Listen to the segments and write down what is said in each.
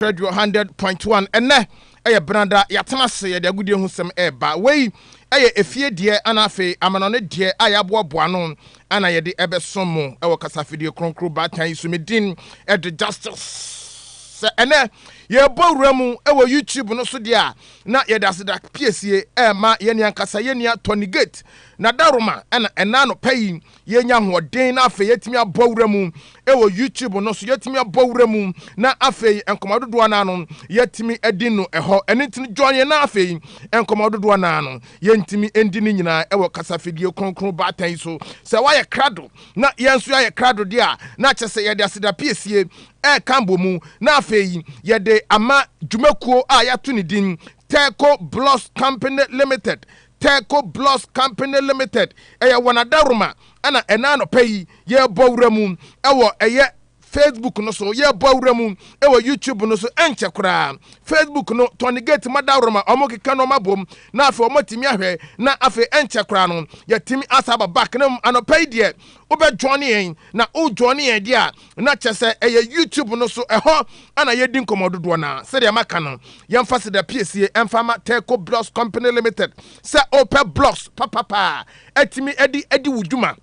Radio hundred point one ɛnɛ ɛyɛ benada yɛatena ase yɛde agodie ho sɛm ɛɛba wei ɛyɛ efie deɛ ana afei amanɔne deɛ a yɛaboaboa ano ana yɛde ɛbɛso mo ɛwɔ kasafidie kronkro baatan yi so me din ɛde justice sɛ ɛnɛ yɛbɔ wura mu ɛwɔ youtube no so deɛ a na yɛde aseda piesie ɛɛma yɛne ankasa yɛnua tɔnigate na daroma ɛna ɛna anɔpa yi Yɛnya ahoɔden na afei yɛatumi abɔ wura mu wɔ YouTube no so. Yɛatumi abɔ wura mu na afei nkɔmmɔ dodoɔ anaa no yɛatumi adi no ɛhɔ. Ɛno nti no, join yɛn na afei nkɔmmɔ dodoɔ anaa no yɛntumi ndi ne nyinaa wɔ kasafidie kronkron baatan yi so. Sɛ woayɛ krado na yɛn nso yɛayɛ krado deɛ a, na kyerɛ sɛ yɛde aseda piesie reka abɔ mu na afei yɛde ama dwumakuo a yɛato ne din Terco Blocks Company Limited. Telco Blocks Company Limited, ɛyɛ wɔn Adaworoma ɛna ɛna anɔpa yi yɛrebɔ awura mu ɛwɔ ɛyɛ Facebook no so, yɛrebɔ awura mu ɛwɔ YouTube no so, ɛnkyɛ koraa Facebook no tɔne gate ma Adaworoma, wɔn keka no wɔn abom na afei wɔn atumi ahwɛ na afei ɛnkyɛ koraa no yɛtumi asa aba back na mu anɔpa yi deɛ wobɛ join yɛn na wo join yɛn deɛ a na kyɛ sɛ ɛyɛ YouTube no so ɛhɔ na yɛdi nkɔmmɔ dodoɔ no ara. Sɛdeɛ maka no, yɛmfa Seda piesie mfa ma Telco Blocks Company Limited. Sɛ wopɛ blocks papapa a atumi de adi wo dwuma,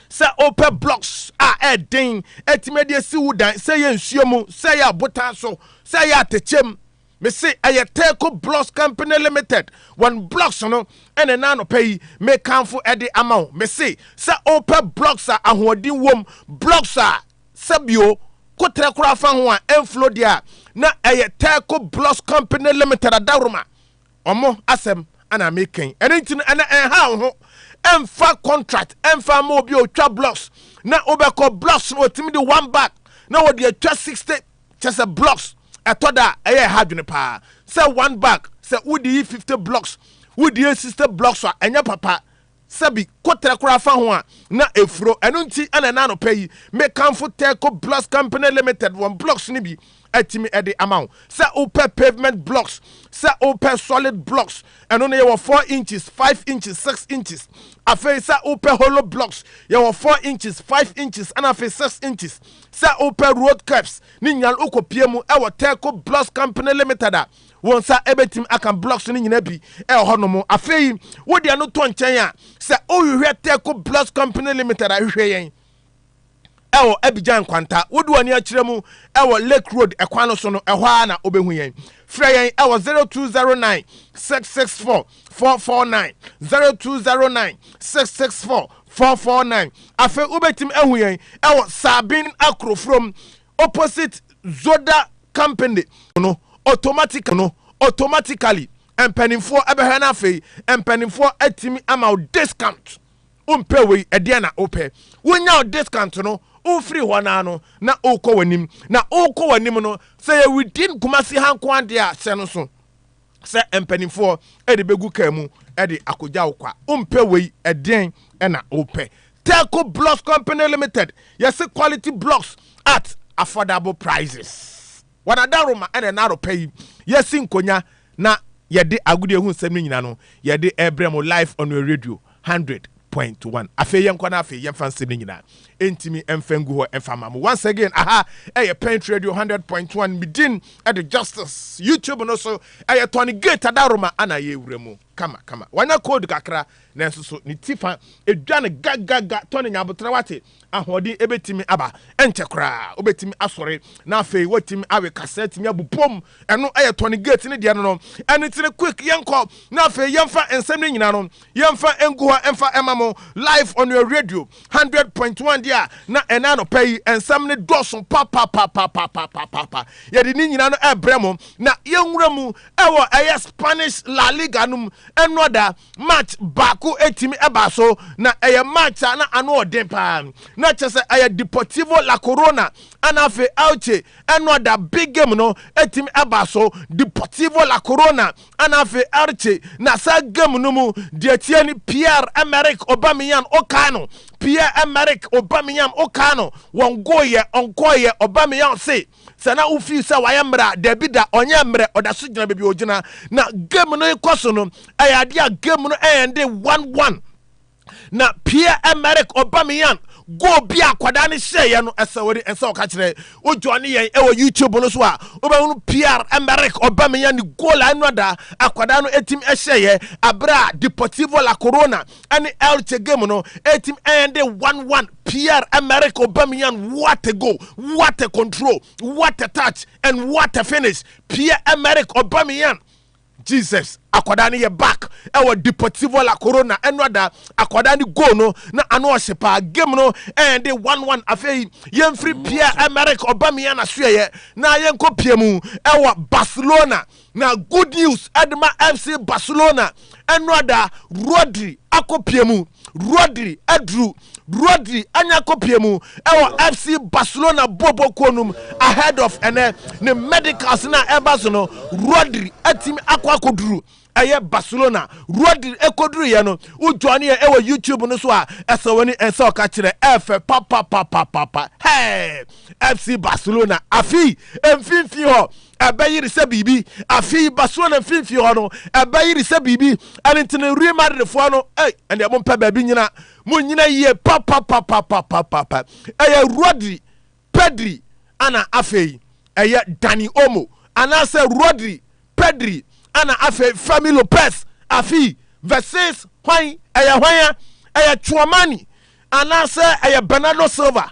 sɛ wopɛ blocks a ɛden atumi de asi wo dan, sɛ ɛyɛ nsuo mu, sɛ ɛyɛ abotan so, sɛ ɛyɛ atɛkyɛm, Me se ɛyɛ Teco Blocks Company Limited wɔn blocks no ɛna ɛna anɔpa yi me kanfo ɛde ama wo. Me se sɛ opɛ blocks a ahoɔden wom, blocks a sɛ bio koterɛ koraa fa ho a ɛnflo deɛ a, na ɛyɛ Teco Blocks Company Limited Adaworoma ɔmo asɛm ɛna me kɛn. Ɛno nti no ɛnɛ ɛnha wo ho, ɛnfa contract ɛnfa ama obi a otwa blocks na wobɛkɔ blocks no otumi de one bag na wɔde atwa 60 Kyerɛ sɛ blocks ɛtɔ da a ɛyɛ ɛha adwene paa sɛ one bag sɛ wode yi fifty blocks wode yɛ sixty blocks a ɛnyɛ papa sɛbi kotrɛ koraa fa ho a na efuro ɛno nti ɛna ɛna anɔpɛ yi mekanfo Telco Blocks Company Limited wɔn blocks no bi atumi ɛde ama wo sɛ wopɛ pavement blocks sɛ wopɛ solid blocks Ɛno no yɛwɔ four inches, five inches, six inches. Afei sɛ wopɛ hollow blocks, yɛwɔ four inches, five inches ɛna afei six inches. Sɛ wopɛ road curbs ne nyinaa no wokɔpie mu ɛwɔ Terco Blocks Company Limited a wo nsa ɛbɛtumi aka blocks no nyinaa bi ɛwɔ hɔ nom. Afei wode ɛno tɔ nkyɛn a sɛ wohwehwɛ Terco Blocks Company Limited a hwehwɛ yɛn. ɛwɔ Abidjan nkwanta. Wode w'ani akyerɛ mu ɛwɔ Lake Road ɛkwan no so no, ɛhɔ ara na wobɛhu yɛn. Frɛ yɛn ɛwɔ 0209 664 449, 0209 664 449. Afei wobɛtumi ahu yɛn ɛwɔ Sabin Akorofrom, opposite Zoda Company no, automatic no, automatically mpanimfoɔ ɛbɛhwɛ no afei mpanimfoɔ atumi ama wo discount. wompɛ wei ɛdeɛn na wopɛ wonya wo discount no wofiri hɔ naa no na wokɔ w'anim na wokɔ w'anim no sɛ yɛ within Kumasi ha nko adeɛ a hyɛ no so sɛ mpanimfoɔ ɛde bɛgu kaa mu ɛde akɔgya wo kwa wompɛ wei ɛdeɛn na wopɛ Telco Blocks Company Limited yɛse quality blocks at affordable prices. Wɔn adaworoma na ɛnna anɔpa yi yɛasi nkonya na yɛde agodie ho nsɛm no nyina no yɛde rebrɛ mo live on your radio hundred point one. Afei yɛnkɔ na afei yɛmfa nsɛm no nyina ntimi mfa ngu hɔ mfa ma mo. Once again aha ɛyɛ Pent Radio hundred point one me din ɛde Justice YouTube no so ɛyɛ Tony Gate Adaworoma ana yɛwura mu kama kama. Wanya cold kakra nanso so ne ti fa ɛdwane gagaga Tony Nyaboterɛ wate. ahoɔden betumi aba. Ɛnkyɛ koraa wobetumi asɔre, na afei woatumi awe kasa, atumi abu pom. Ɛno yɛ Tony Gates ne deɛ no no. Ɛno nti no, quick, yɛnkɔ na afei yɛmfa nsɛm no nyinaa no, yɛmfa ngu hɔ mfa mma mo, live on your radio, hundred point one deɛ a, na ɛnɛ anɔpa yi nsɛm no dɔɔso papapapapapapapa. Yɛde ne nyinaa no ɛbrɛ mo, na yɛnwura mu ɛwɔ ɛyɛ Spanish La Liga no mu, ɛnnɔ da. March baako tumi baa so, na ɛyɛ March a na ano ɔden paa. Na kyerɛ sɛ ɛyɛ Deportivo La Corona ɛna afei Elche ɛno a da big game no tumi baa so. Deportivo La Corona ɛna afei Elche na saa game no mu deɛ tie ne Pierre Emerick Aubameyang ɔkaa no Pierre Emerick Aubameyang ɔkaa no wɔn goyɛ ɔnkɔɔyɛ Aubameyang se Sɛ na wo feel sɛ wayɛ mmerɛ a, dabi da, ɔnyɛɛ mmerɛ, ɔda so gyina baabi a ɔgyina. Na game no rekɔ so no, ɛyɛ adeɛ a game no ɛɛnde one one. Na Pierre Emerick Aubameyang goal bi a akwadaa no hyɛeɛ no, ɛsɛ wode nsa ɔka kyerɛ. Wo join yɛn ɛwɔ YouTube no so a, wobɛhunu Pierre Emerick Aubameyang ne goal a ɛno ada akwadaa no ɛtim ɛhyɛeɛ aberɛ a Deportivo La Corona ɛne El Che game no ɛtim ɛnde one one Pierre Emerick Aubameyang what a goal what a control what a touch and what a finish Pierre Emerick Aubameyang Jesus akwadaa no yɛ back ɛwɔ Deportivo La Corona ɛno ada akwadaa no goal no na ano ɔhyɛ paa game no ɛnde one one afei yɛmfiri Pierre Emerick Aubameyang asoɛyɛ na yɛnkɔ pia mu ɛwɔ Barcelona Na good news de ma FC Barcelona ɛno ada Rodri akɔpie mu. Rodri aduru. Rodri anya akɔpie mu ɛwɔ FC Barcelona boobɔ kuo nom ahead of ɛnɛ ne medicals no a ɛba so no. Rodri atumi akɔ akɔduru ɛyɛ Barcelona. Rodri ɛkɔduru yɛ no wo join yɛ ɛwɔ YouTube no so a ɛsɛ wani ɛsɛ ɔka kyerɛ ɛfɛ papapapapapa. Hey! FC Barcelona afei mfimfini hɔ ɛbɛyere sɛ biribi. Afei ba soɔ na mfimfini hɔ no ɛbɛyere sɛ biribi. Ɛno nti no Real Madridfoɔ no, ei, ɛndeɛ mompɛ baabi nyina. Monyina yie papapapapapapa. Ɛyɛ Rodri, Pedri ɛna afei ɛyɛ Dani Olmo. Anaasɛ Rodri, Pedri ɛna afei Fermin Lopez. Afii, versus hwan? Ɛyɛ hwan a? Ɛyɛ Tchouamani anaasɛ ɛyɛ Bernardo Silva?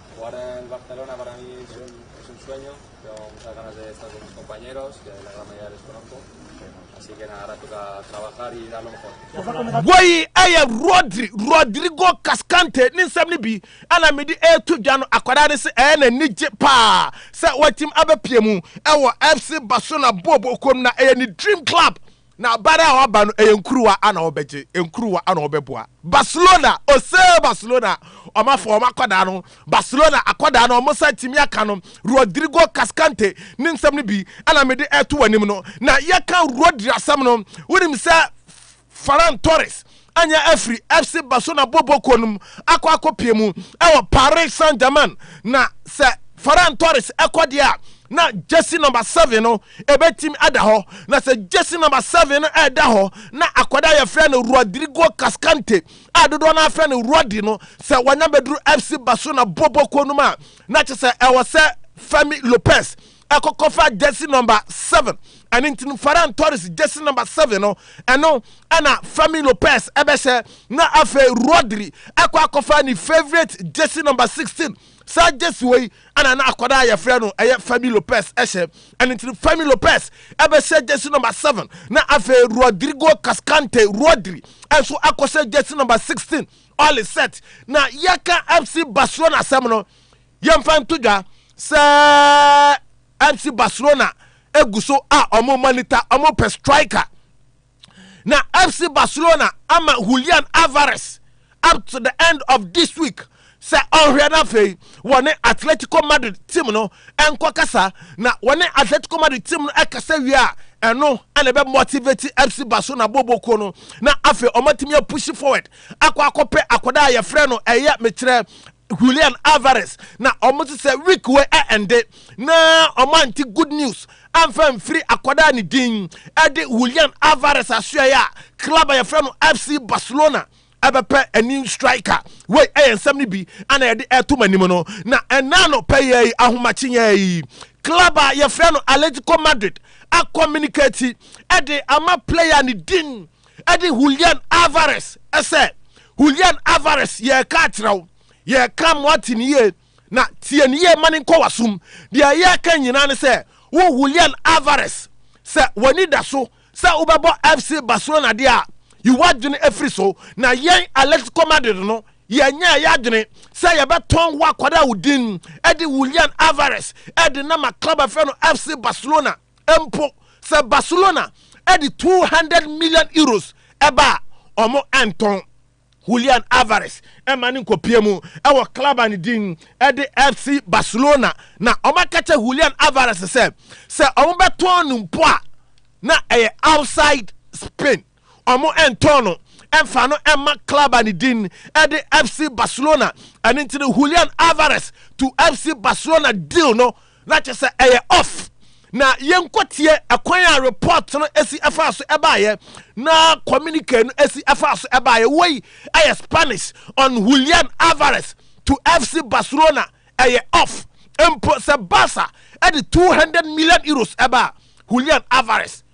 Wei ɛyɛ Rodri, Rodrigo Cascante ne nsɛm no bi ɛna mede ɛreto dwa no akwadaa no sɛ ɛyɛ n'anigye paa sɛ watumi abɛpia mu ɛwɔ FC Barcelona bɔɔl bɔɔl kuo mu na ɛyɛ ne dream club. Na abare a waba no ɛyɛ nkuruwa a na wɔbɛgye, nkuruwa a na wɔbɛboa. Barcelona, osee Barcelona wɔn afa wɔn akwadaa no, Barcelona akwadaa no wɔn nsa atumi aka no, Rodrigo Cascante ne nsɛm no bi na mede ɛreto w'anim no. Na yɛka Rodri asɛm no, wonim sɛ Ferran Torres Anya afiri FC Barcelona bɔbɔ kuo no mu akɔ akɔpie mu wɔ Paris Saint-Germain na sɛ Ferran Torres kɔ deɛ a na jersey number seven no ɛbɛtim ada hɔ na sɛ jersey number seven no ɛda hɔ na akwadaa a yɛfrɛ no Rodrigo Cascante a dodoɔ no afrɛ no Roddy no sɛ wanya bɛduru FC Barcelona bɔbɔ kuo no mu a na kyɛ sɛ ɛwɔ sɛ Fermi Lopez ɛkɔkɔfa gyɛse nɔmba seven ɛno nti no Ferran Torres gyɛse nɔmba seven no ɛno ɛna Fermin Lopez ɛbɛhyɛ na afei Rodri akɔ akɔfa ne favourite gyɛse nɔmba sixteen saa gyɛse wɔ yi ɛna na akwadaa yɛfrɛ no ɛyɛ Fermin Lopez ɛhyɛ ɛno nti no Fermin Lopez ɛbɛhyɛ gyɛse nɔmba seven na afei Rodrigo Cascante Rodri ɛnso akɔhyɛ gyɛse nɔmba sixteen all is set na yɛka FC Barcelona asɛm no. Yɛmfa nto dwa sɛ FC Barcelona gu so a wɔn monitor, wɔn pɛ striker. Na FC Barcelona ama Julian Alvarez up to the end of this week sɛ ɔnhwɛ no afei wɔne Atletico Madrid team no nkɔ kasa na wɔne Atletico Madrid team no ɛkasa wie a ɛno ɛna ɛbɛ motivate FC Barcelona bɔbɔkuo no na afei wɔatumi apushi forward akɔ akɔpɛ akɔda a yɛfrɛ no ɛyɛ mekyerɛ Julian Alvarez na wɔn nso sɛ week wei a ɛnde na wɔn ante good news amfa mfiri akwadaa ne din ɛde Julian Alvarez asoɛe a club a yɛfrɛ no FC Barcelona ɛbɛpɛ a new striker wei ɛyɛ nsɛm no bi ana yɛde ɛto mo anim no na ɛnaa no pɛyɛ yi ahomakyenyɛ yi club a yɛfrɛ no Atletico Madrid akɔminikati ɛde ama player ne din de Julian Alvarez sɛ, Julian Alvarez, yɛreka akyerɛ wo, yɛreka ma woate ne yie, na tie ne yie ma no nkɔ w'asom. Deɛ yɛreka nyinaa ne sɛ, wo Julian Alvarez, sɛ w'ani da so sɛ wobɛbɔ FC Barcelona deɛ a, yi w'adwene firi so. Na yɛn Atletico Madrid no, yɛnyɛɛ yɛn adwene sɛ yɛbɛtɔn wo akwadaa wo din de Julian Alvarez de no ama club a yɛfrɛ no FC Barcelona. mpo sɛ Barcelona de two hundred million euros ɛba a wɔntɔn. Julian Alvarez ɛma no nkɔpie mu ɛwɔ club a ne din ɛde FC Barcelona na wɔaka kyɛ Julian Alvarez sɛ sɛ wɔbɛtɔn no mpo a na ɛyɛ outside Spain. wɔntɔn no mfa no mma club a ne din de FC Barcelona. Ɛno nti no Julian Alvarez to FC Barcelona deal no na kyerɛ sɛ ɛyɛ off. Na yɛnkɔtie ɛkwan a report no si ɛfaa so ɛbaeɛ na communique no si ɛfaa so ɛbaeɛ. Wei ɛyɛ Spanish on Julian Alvarez to FC Barcelona ɛyɛ off. Mpo sɛ Barca ɛde 200 million euros ɛba Julian Alvarez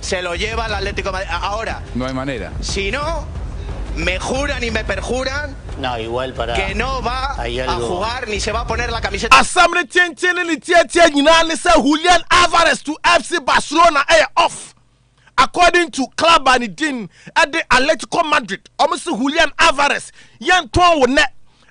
Se lo lleva el Atlético de Madrid ahora. No hay manera. Si no, me juran y me perjuran que no va a jugar ni se va a poner la camiseta. Asɛm no tenten ne ne tiatia nyinaa ne sɛ Julian Alvarez to FC Barcelona ɛyɛ off according to club a ne din de Atletico Madrid. Wɔn se Julian Alvarez yɛntɔn wo nnɛ,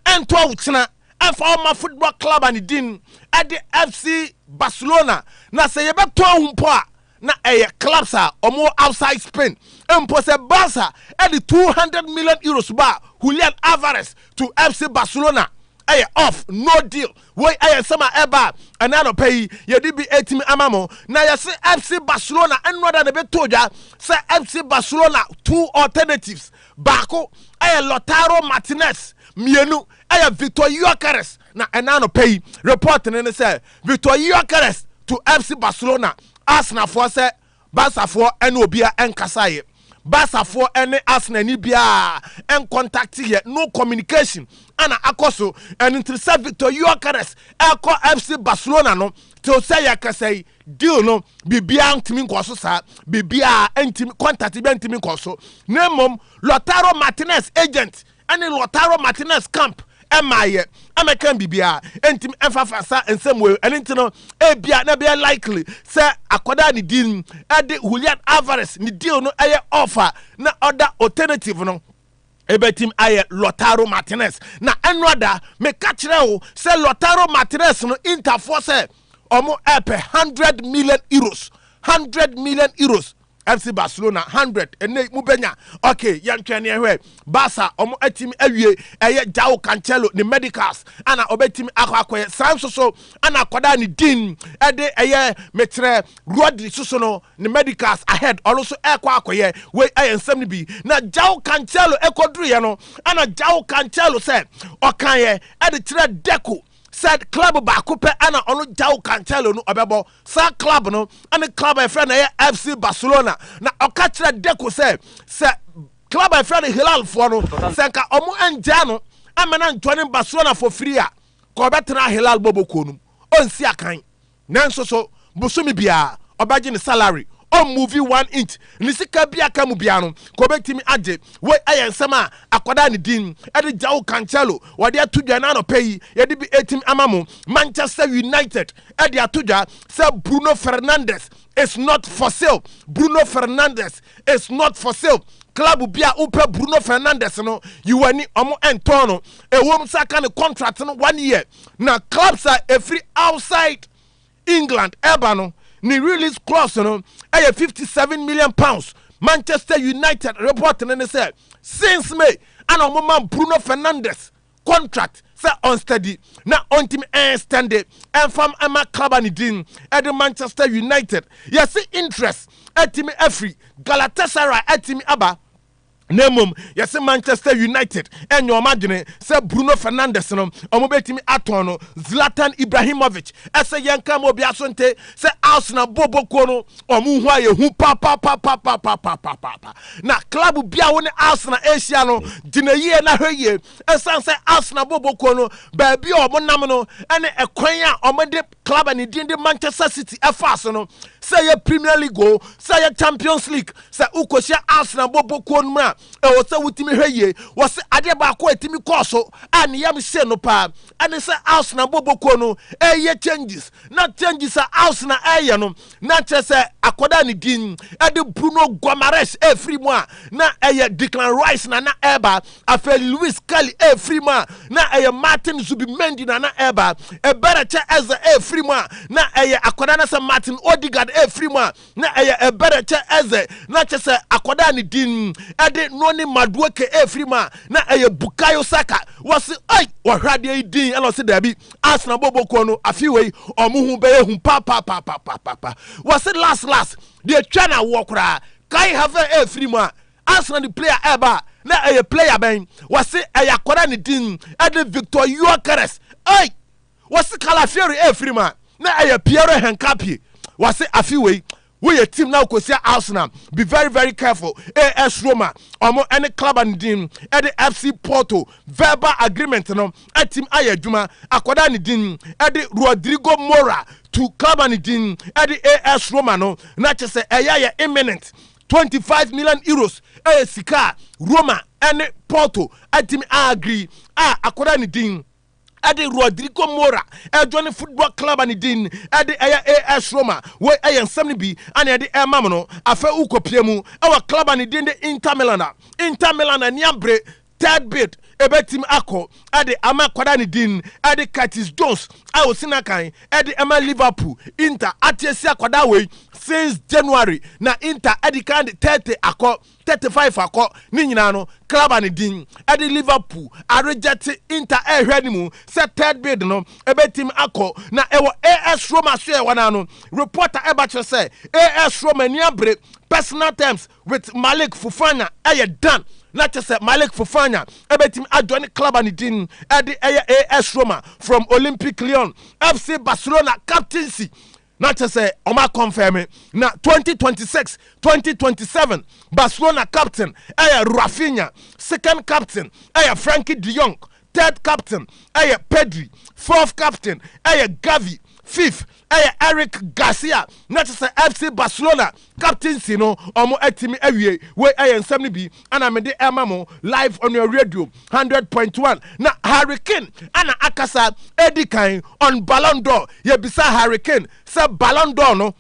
ɛntɔ wo kyena, ɛmfa wo mma football club a ne din de FC Barcelona, na sɛ yɛbɛtɔn wo mpo a Na ɛyɛ clubs a wɔwɔ outside Spain mpo sɛ Barca de two hundred million euros baa Julian Alvarez to FC Barcelona ɛyɛ off no deal. Woi ɛyɛ nsɛm a ɛba a ɛnɛ anɔpa yi yɛde bi ɛretumi ama mo na yɛse FC Barcelona nnora da na ɛbɛtoo dwa sɛ FC Barcelona two alternatives baako ɛyɛ Lautaro Martinez mmienu ɛyɛ Victor Gyökeres Na ɛnnɛ anɔpa yi, report no ne sɛ Victor Gyokeres to FC Barcelona, Arsenal foɔ sɛ Barca foɔ ne obiara nkasaeɛ. Barca foɔ ne Arsenal ni biara ncontacteeɛ, no communication na akɔ so. Ɛno nti sɛ Victor Gyokeres ɛrekɔ FC Barcelona no, till sɛ yɛkasa yi, deal no biribiara ntumi nkɔ so saa. Biribiara ntumi, contact biara ntumi nkɔ so. Na mmom Lautaro Martinez agent ɛne Lautaro Martinez camp mmaeɛ ɛmɛka biribiara ɛntim ɛmfa fa sa nsɛm wei ɛne nti no ebia na ɛbɛyɛ likely sɛ akɔda ne din ɛde Julian Alvarez ne deal no ɛyɛ offer na ɔda alternative no ɛbɛtim ayɛ Lautaro Martinez na ɛnoada meka kyerɛ wo sɛ Lautaro Martinez no interfoɔ sɛ ɔmo ɛpɛ 100 million euros 100 million euros FC Barcelona hundred ɛnna yi mobɛnya okay yɛntwɛn ne ɛhwɛ Barca wɔn atumi awie ɛyɛ João Cancelo ne medicals ana ɔbɛtumi akɔ akɔyɛ saa nso so ana akɔda ne din ɛde ɛyɛ mekyerɛ Rodri soso no ne medicals ahead ɔno nso ɛkɔ akɔyɛ wei ɛyɛ nsɛm no bi na João Cancelo ɛkɔduruyɛ no ana João Cancelo sɛ ɔkaeɛ ɛde kyerɛ Deco sɛ club baako pɛ ɛna ɔno João Cancelo no ɔbɛbɔ saa club no ɛne club a yɛfrɛ no ɛyɛ FC Barcelona na ɔka kyerɛ Deco sɛ sɛ club a yɛfrɛ no Hilal foɔ no sɛ nka ɔmo ɛngyaa no ɛmɛ na ntɔne Barcelona foɔ firi a ka ɔbɛtena Hilal bɔbɔkuo no mu ɔnsi akan Nanso so bosome biara ɔbɛgye ne salary ɔn movie one inch ne sika bi aka mu biara no ka ɔbɛtumi agye wei ɛyɛ nsɛm a akwadaa ne din ɛde Joao Cancelo wɔde ato dwa ɛna anɔpa yi yɛde bi ɛtumi ama mo Manchester United ɛde ato dwa sɛ Bruno Fernandes is not for sale Bruno Fernandes is not for sale club bi a wopɛ Bruno Fernandes no yiwani ɔmo ɛntɔn no ɛwom sɛ aka ne contract no one year Na clubs a ɛfiri outside England ɛba no ne release clause no ɛyɛ fifty seven million pounds. Manchester United report no ne sɛ since May ana wɔn ma Bruno Fernandes contract sɛ ɔnsteady na ɔntumi ɛnstɛnde ɛnfam ɛma club a ne din ɛde Manchester United. Yɛsi interest ɛtumi afiri Galatasaray ɛtumi aba. na mmom yɛse Manchester United nyɛ wɔn adwene sɛ Bruno Fernandes no wɔbɛtumi atɔn no Zlatan Ibrahimovic ɛsɛ yɛnka ma obiara so nte sɛ Arsenal bobo kuo no wɔn ho a yɛhu papapapapapapapa na club bia wo ne Arsenal ɛhyia no gyina yie na hwɛ yie ɛsan sɛ Arsenal bobo kuo no baabi a wɔn nam no ɛne ɛkwan a wɔn de club a ne din de Manchester City ɛfa ase no, sɛ ɛyɛ Premier League o, sɛ ɛyɛ Champions League, sɛ wokɔhyia Arsenal bɔ bɔ kuo no mu a, ɛwɔ sɛ wotumi hwɛ yie. Wɔse adeɛ baako a ɛtumi kɔɔ so a ne yam hyee no paa ɛne sɛ Arsenal bɔ bɔ kuo no ɛreyɛ changes, na changes a Arsenal ɛreyɛ no na nkyerɛ sɛ akɔda a ne din ɛde bruno guamares ɛfiri mu a na ɛyɛ declan rice na na ɛba afei louis kelly ɛfiri mu a na ɛyɛ martin zubimendi na na ɛba ɛbɛrɛkyɛ ɛza ɛfiri mu a na ɛyɛ akɔda na sɛ martin odigard ɛfiri mu a na ɛyɛ ɛbɛrɛkyɛ ɛzɛ na kyerɛ sɛ akɔda a ne din ɛde noni maduoke ɛfiri mu a na ɛyɛ bukayo saka wɔse ai wɔhwɛ adeɛ yi din ɛna ɔse daabi Arsenal bɔbɔ kuo no afi wei ɔmo ho bɛyɛ hu papapapapaapa wɔse last last deɛ twa na awoɔ koraa Kai Havertz ɛfiri mu a Arsenal de player ɛba a na ɛyɛ player bɛn wɔse ɛyɛ akɔda ne din ɛde Victor Gyökeres ei wɔse Calafiori ɛfiri mu a na ɛyɛ Pierre Hincapie wɔse afi wei Woyɛ team na okosia Arsenal be very very careful AS Roma ɔmo ɛne club no din ɛde FC Porto verbal agreement no atim ayɛ adwuma akɔda ne din ɛde Rodrigo Mora to club no din ɛde AS Roma no na kyesɛ ɛyɛ yɛ imminent 25 million Euros ɛyɛ sika a Roma ɛne Porto atim a agree a akɔda ne din ɛde Rodrigo Mora ɛjoine football club a ne din ɛde ɛyɛ AS Roma. Wei ɛyɛ nsɛm no bi a nea ɛde ɛrema mo no. Afei wokɔpue mu ɛwɔ club a ne din de Inter Milan a, Inter Milan ani abere third bid ɛbɛtumi akɔ ɛde ama akwadaa ne din ɛde Curtis Jones a ɔsi n'akan ɛde ɛma Liverpool. Inter ate asia akwadaa wei since January na Inter ɛde kan de 30 akɔ thirty five akɔ ne nyinaa no club a ne din de Liverpool aregyɛte Inter ɛrehwɛ anim sɛ third bid no ɛbɛtim akɔ na ɛwɔ AS Roma so ɛwɔ no ano. Report a ɛba kyerɛ sɛ AS Roma ani abere personal terms with Malik Fofana ɛyɛ done na kyerɛ sɛ Malik Fofana ɛbɛtim ajoine club a ne din de ɛyɛ AS Roma from Olympique Lyon FC Barcelona captaincy Na kyɛ sɛ wɔn a kɔnfɛme na twenty twenty six, twenty twenty seven Barcelona captain yɛ Raphinha, second captain yɛ Frankie de Jong, third captain yɛ Pedri, fourth captain yɛ Gavi, fifth yɛ Eric Garcia, na kyɛ sɛ FC Barcelona Captaincy no ɔmo atumi awie. Wei ɛyɛ nsɛm no bi ɛna mede ɛma mo live on your radio hundred point one. Na Harry Kane ɛna akasa edi kan on Ballon d'Or. Yɛbisaa Harry Kane sɛ Ballon d'Or no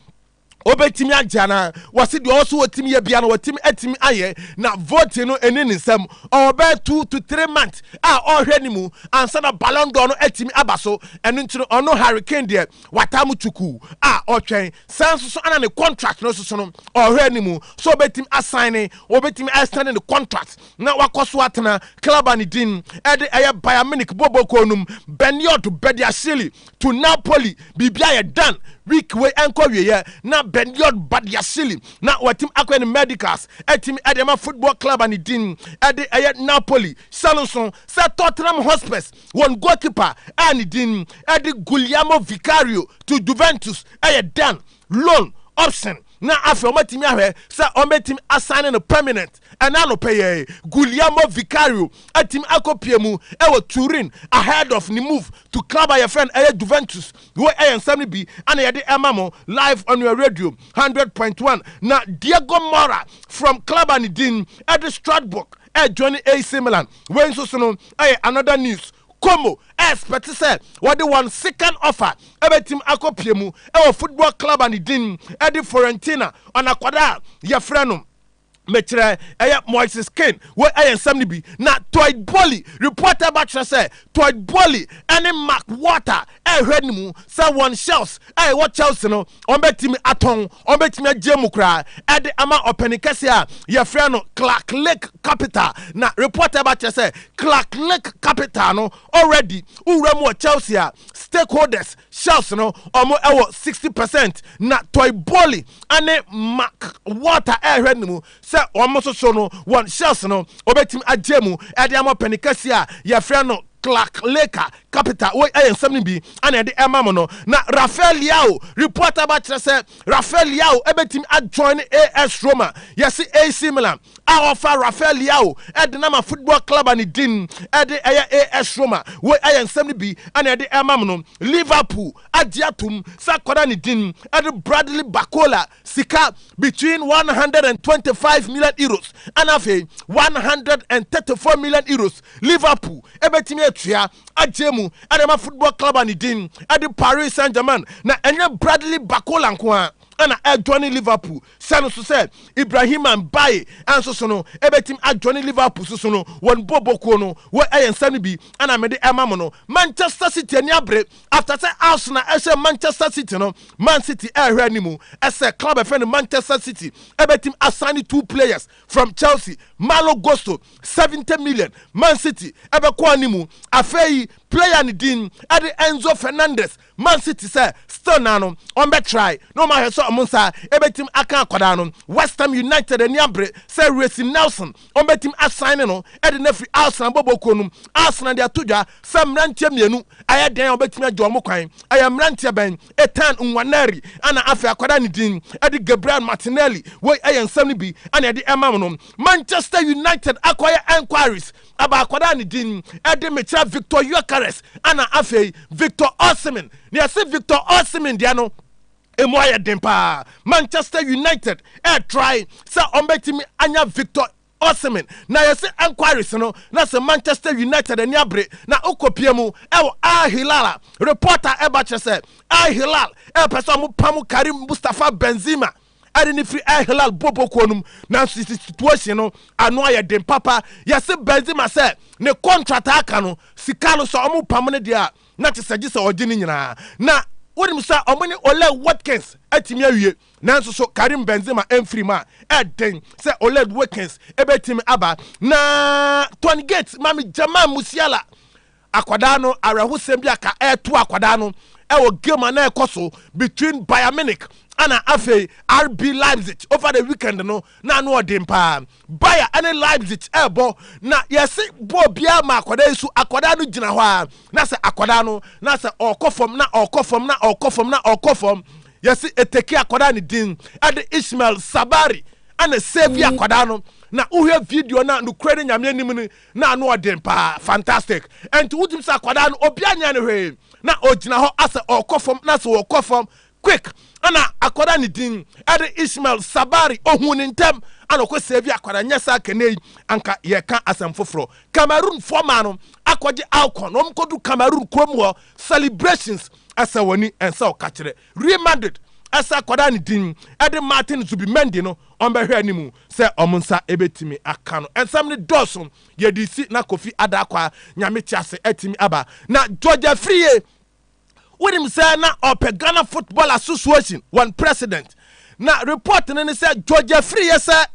obetumi agye anaa? Wɔse deɛ ɔwɔ so otumi yɛ biara no watumi atumi ayɛ. Na voting no ɛni ne nsam. Ɔwɔ bɛyɛ two to three months a ɔrehwɛ no mu ansa na Ballon d'Or no atumi aba so. Ɛno nti no ɔno Harry Kane deɛ wataa mo tukuu a ɔretwɛn. Saa nso so ana ne contract no soso no ɔhwɛ anim sɛ ɔbɛtumi asan ne ɔbɛtumi extend ne contract na wakɔ so atena club a ne din ɛde ɛyɛ Bayern Munich bɔbɔkuo nom Benioud Badiashile to Napoli biribi ayɛ dan week wei ɛnkɔ wieɛ na Benioud Badiashile na watumi akɔyɛ ne medicals atumi ɛde ama football club a ne din ɛde ɛyɛ Napoli sɛ no nso sɛ Tottenham Hotspurs Wɔn goalkeeper a ne din de Guglielmo Vicario to Juventus yɛ dan, loan, option, na afei wɔatumi ahwɛ sɛ wɔbɛtumi asane no permanent. Ɛnnɛ anɔpa yi ara yi, Guglielmo Vicario atumi akɔpue mu wɔ Turin ahead of ne move to club a yɛfrɛ no ɛyɛ Juventus. Wei yɛ nsɛm no bi na yɛde rema mo live on your radio hundred point one. Na Diego Mora from club a ne din de Strasbourg Eh Johnny AC Milan wei nso so no ɛyɛ another news. Como expect sɛ wɔde wɔn second offer ɛbɛtim akɔpie mu ɛwɔ football club a ne din ɛde Fiorentina on akwadaa a yɛfrɛ no mekyerɛ ɛyɛ Moises Kean wei ɛyɛ nsɛm no bi na Toit Boehly report ɛba kyerɛ sɛ Toit Boehly ɛne Mark Walter rehwɛ no mu sɛ wɔn shelves a ɛwɔ Chelsea no, wɔbɛtumi atɔn, wɔbɛtumi agye mu koraa de ama ɔpanin kɛse a yɛfrɛ no Clark Lake Capital. Na report a ɛba kyerɛ sɛ Clark Lake Capital no already wura mu wɔ Chelsea a stakeholders shelves no wɔwɔ 60%. Na Toy Boehly ne Mark Walter rehwɛ no mu sɛ wɔsoso no wɔn shells no, wobetumi agye emu de ama ɔpanyin kɛse a yɛfrɛ no Clark Laker Capital. Wei yɛ nsɛm no bi a na yɛde rema mo no. Na Rafael Leao, report aba kyerɛ sɛ Rafael Leao betumi ajoin AS Roma, yɛse AC Milan, a wɔfa Rafael Leao de no ama football club a ne din de ɛyɛ AS Roma. Wei yɛ nsɛm no bi a na yɛde rema mo no. Liverpool agye atom sɛ akwadaa ne din de Bradley Barcola sika between one one hundred and twenty five million euros ɛna afei one one hundred and thirty four million euros liverpool ɛbɛtumi atua agye mu ɛde ma football club a ne din ɛde paris saint germain na ɛnyɛ bradley bakola nko a ɛna ɛdwane liverpool sɛ no so sɛ ibrahima mbaye ɛnso so no ɛbɛtumi adwane liverpool so so no wɔn bobokuo no wɔ ɛyɛ nsa no bi ɛna mede ɛma mo no manchester city ani abere After sɛ Arsenal ɛhyɛ Manchester City no, Man City ɛrehwɛ anim sɛ club ɛfrɛ no Manchester City ɛbɛtumi asign two players from Chelsea, Malo Gusto, seventy million. Man City ɛbɛkɔ anim. Afei player no din ɛde Enzo Fernandez. Man City sɛ still naa no wɔbɛtrae na wɔahwɛ sɛ wɔn nsa ɛbɛtumi aka akwadaa no. West Ham United ani abere sɛ Reiss Nelson wɔbɛtumi asaene no de no afiri Alsna bɔbɔɔ kuo no mu. Alsna de ato dwa sɛ mmeranteɛ mmienu ayɛ dɛn a wɔbɛtumi agye wɔn kwan. Ɛyɛ mmeranteɛ bɛn? Ethan Nwaneri ɛna afei akwadaa a ne din de Gabriel Martinelli. Wei yɛ nsɛm no bi na yɛde rema wo no. Manchester United akɔyɛ enquiries aba akwadaa a ne din de Mekyerɛ Viktor Gyökeres ɛna afei Victor Osimhen. Na yɛse Victor Osimhen deɛ no, Emu ayɛ den paa. Manchester United ɛɛtrae sɛ ɔmbɛtumi anya Victor Osimhen na yɛse enquiries no na se Manchester United ani abere na okopia mu ɛwɔ Al Hilal a, report a ɛba kyerɛ sɛ Al Hilal ɛɛpɛ sɛ ɔmo pamo Karim Mustafa Benzema ɛde no firi Al Hilal bɔbɔ kuo no mu nanso yɛse situation no ano ayɛ den papa. Yɛse Benzema sɛ ne contract a aka no sika no sɛ ɔmo pamo no deɛ a, na te sɛ gye sɛ ɔgye ne nyinaa. Na wonim sɛ wɔn ne Ollie Watkins atumi awie, nanso so Karim Benzema amfiri mu a, ɛyɛ den sɛ Ollie Watkins bɛtumi aba. Na Tony Gates ma me Jamal Musiala, akwadaa no, awerɛhosɛm bi a ka ɛreto akwadaa no wɔ game a na ɛkɔ so between Bayern Munich ɛna afei RB Leipzig over the weekend no, na ano ɔden paa. Bayer ne Leipzig rebɔ, na yɛse bɔɔl biara ma akwadaa yi so, akwadaa no gyina hɔ ara, na sɛ akwadaa no, na sɛ ɔrekɔ fam, na ɔrekɔ fam, na ɔrekɔ fam, na ɔrekɔ fam. Yɛse eteki akwadaa ne din de Ismael Sabari na ɛsɛɛvi akwadaa no, na wohwɛ video no a, nokorɛ ne Nyame anim no, na ano ɔden paa, fantastic. Ɛnti wotumi sɛ akwadaa no, obiara nyɛɛ no hwee, na ɔgyina hɔ asɛ ɔrekɔ fam, na sɛ ɔrekɔ fam, Quick na akwadaa ne din ɛde Ishmael Sabari ohun ne ntɛm ɛna ɔkɔ save akwadaa nyɛ saa kɛnɛ yi anka yɛ ka asɛm foforɔ Cameroon foɔ maa no akɔ gye Alcon na wɔn kɔ du Cameroon kuro mu hɔ celebrations ɛsɛ wɔn ni ɛnsɛ ɔka kyerɛ Real Madrid ɛsɛ akwadaa ne din ɛde Martin Zubimendi no wɔn bɛ hwɛ anim sɛ wɔn nsa ɛbɛtumi aka no ɛnsɛm ne dɔɔso yɛde si na Kofi Adaakwaa nyame te ase ɛtumi aba na George Afriyie wonim sɛ na ɔpɛ ghana football association wɔn president na report no ne sɛ george afiriyɛ sɛ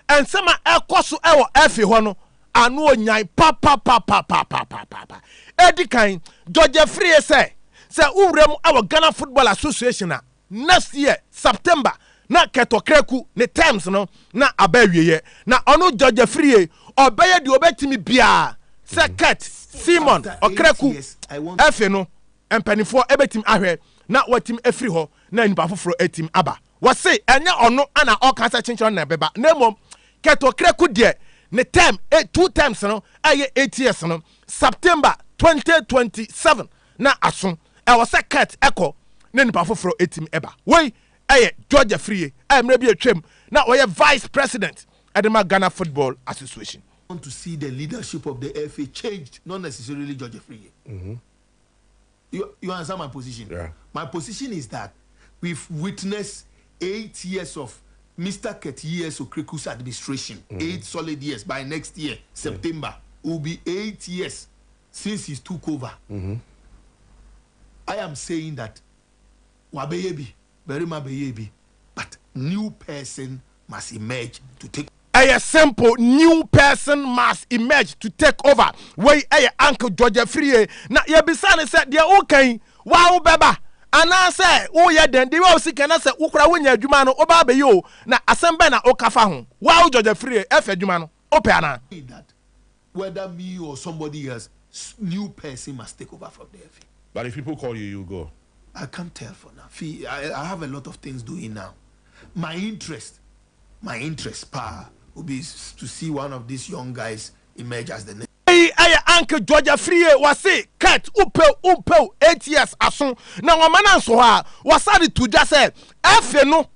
nsɛm a ɛkɔ so ɛwɔ ɛfe hɔ no ano onyan papapapapapapa ɛdi kan george afiriyɛ sɛ sɛ wowura mu ɛwɔ ghana football association a Next year September na Kɛtɔ Kraku ne terms no na aba awieɛ na ɔno George Afriyie ɔbɛyɛ deɛ ɔbɛtumi biara sɛ Kɛt, Simon, Ɔkraku afi no mpaninfoɔ bɛtumi ahwɛ na watumi afiri hɔ na nipa foforɔ atumi aba. Wɔse ɛnyɛ ɔno na ɔka sɛ Kyenkyerew na ɛbɛba na mmom Kɛt Ɔkraku deɛ ne term, two terms no ɛyɛ eight years no September twenty twenty seven. na aso ɛwɔ sɛ Kurt kɔ na nnipa foforɔ atumi aba. Wei yɛ George Afriyie a mmerɛ bi atwam na ɔyɛ Vice President de ma Ghana Football Association. I want to see the leadership of the FA changed not necessarily George Afriyie. You you understand my position? Yeah. My position is that we've witnessed eight years of Mister Kurt years Okreku's administration. Mm-hmm. Eight solid years. By next year, September, yeah. will be eight years since he took over I am saying that wabɛyɛ bi barima bɛyɛɛ bi but new person must emerge to take. Ɛyɛ simple new person must emerge to take over wei ɛyɛ uncle George Afriyie na yɛbisa no sɛ deɛ woka yi waa wobɛba anaasɛ woyɛ dɛn deɛ wɔ sika na sɛ wokora wonya adwuma no woba abɛyɛ o na asɛm bɛn na woka fa ho waa wo George Afriyie ɛfɛ adwuma no wopɛ anaa. That whether me or somebody else new person must take over from there fee. But if people call you you go. I can't tell for now fee I I have a lot of things doing now my interest my interest paa will be to see one of these young guys emerge as the next. Wei ɛyɛ anke Georgia Frie wɔse Kurt wopew wompew eight years aso na wɔma no anso hɔ a wɔsane to dwa sɛ afe no.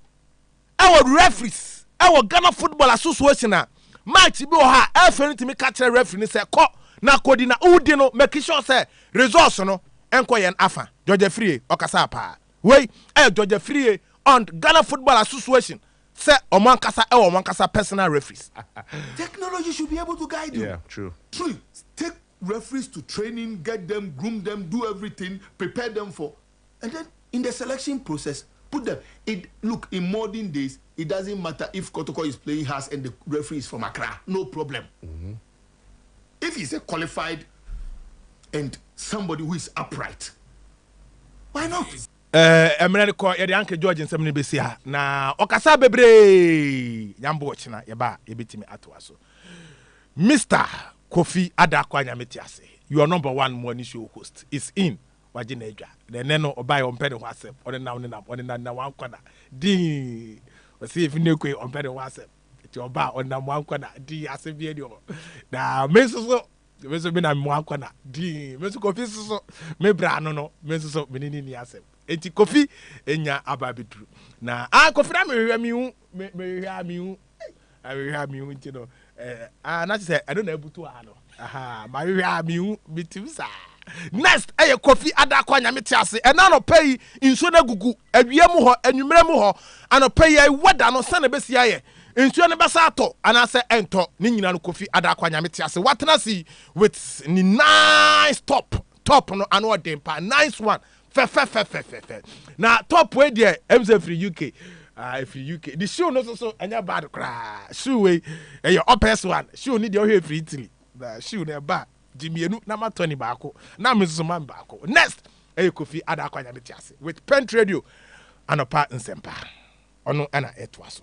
Ɛwɔ referees ɛwɔ Ghana football association a match bi wɔ hɔ a ɛfɛ no tumi ka kyerɛ referee no sɛ kɔ na kɔdi na wodi no make sure sɛ results no nkɔ yɛn afa. George Afriyie ɔkasaa paa. Wei ɛyɛ George Afriyie und Ghana football association sɛ wɔn ankasa ɛwɔ wɔn ankasa personal referees. Technology should be able to guide you through. referees to training, get them, groom them, do everything, prepare them for and then in the selection process put them it look in modern days it doesn't matter if Kotoko is playing house and the referee is from Accra no problem mm -hmm. if he's a qualified and somebody who is upright why not Eh, mmerɛ no kɔ yɛde anke george nsɛm no bɛsi ha na ɔkasa bebree nyambo ɔkyena yɛba a yɛbɛtumi atoa so mr Kofi Adako Anyame te ase your number one morning show host is in wagye n'adwa na ɛnɛ no ɔbaeɛ ɔmpɛ ne ho asɛm ɔne nam ne nam ɔne nam nam wankɔ na dii ɔse efi ne koe ɔmpɛ ne ho asɛm nti ɔba a ɔnam wankɔ na dii asɛm bi ani hɔ na me nso so me nso me nam wankɔ na dii me nso kofi nso so me bra ano no me nso so me ne ne ni asɛm nti kofi enya aba abɛduru na ah kofi na mehwehwɛ mehu mehwehwɛ a mehu Ahwehwɛ a mehu nti no eh, ah, na kyerɛ sɛ ɛno na abutu a no aha mahwehwɛ a mehu metim saa. Next ɛyɛ Kofi Adakwa Nyame te ase ɛna anɔpa yi nsuo no agugu awia mu hɔ anwummerɛ mu hɔ anɔpa yi ayi wɛda no sɛn na ɛbɛsi ayɛ nsuo no bɛsa atɔ anaasɛ ɛntɔ ne nyina no Kofi Adakwa Nyame te ase watena ase yi with ne nice top top no ano ɔden pa nice one fɛfɛfɛfɛfɛfɛ na top wei deɛ ɛmu sɛ firi uk ah, ɛfiri uk de shoe no soso ɛnyɛ bad koraa shoe wei ɛyɛ ɔpɛs one shoe no deɛ ɔhwɛ ɛfiri italy na shoe no ɛba gye mmienu na ma tɔni baako na me soso ma me baako next ɛyɛ kofi ada akɔ anyame te ase with pent radio anɔpa nsɛmpa ɔno ɛna ɛtoa so